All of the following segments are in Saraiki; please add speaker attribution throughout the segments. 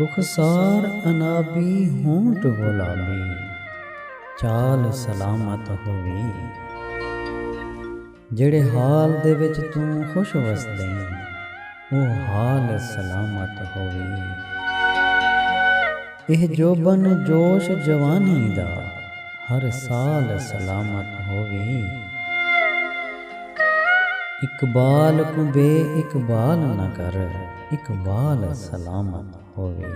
Speaker 1: رخسار عنابی ہونٹ گلابی چال سلامت ہووی جیڑھے حال دے وچ توں خوش وسدیں او حال سلامت ہووی۔ ایہ جوبن جوش جوانی دا ہر سال سلامت ہووی۔ اقبال کوں بے اقبال نہ کر اقبال سلامت ہووی۔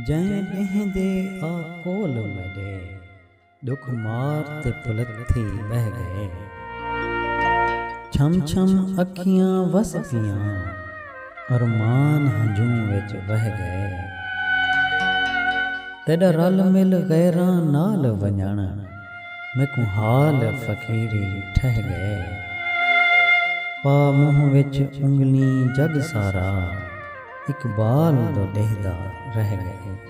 Speaker 1: جئیں ݙینہہ دے آ کول میݙے۔ ڈکھ مار تے پلتھی بہہ گئے۔ چھم چھم اکھیاں وس گیاں۔ ارمان ہنجوں وچ وہہ گئے۔ تیڈا رل مل غیراں نال ونجنڑ۔ میکوں حال فقیری ٹھہہ گئے۔ پا منہ وچ انگلیں جگ سارا۔ اقبال دو ڈیہدا رہ گئے۔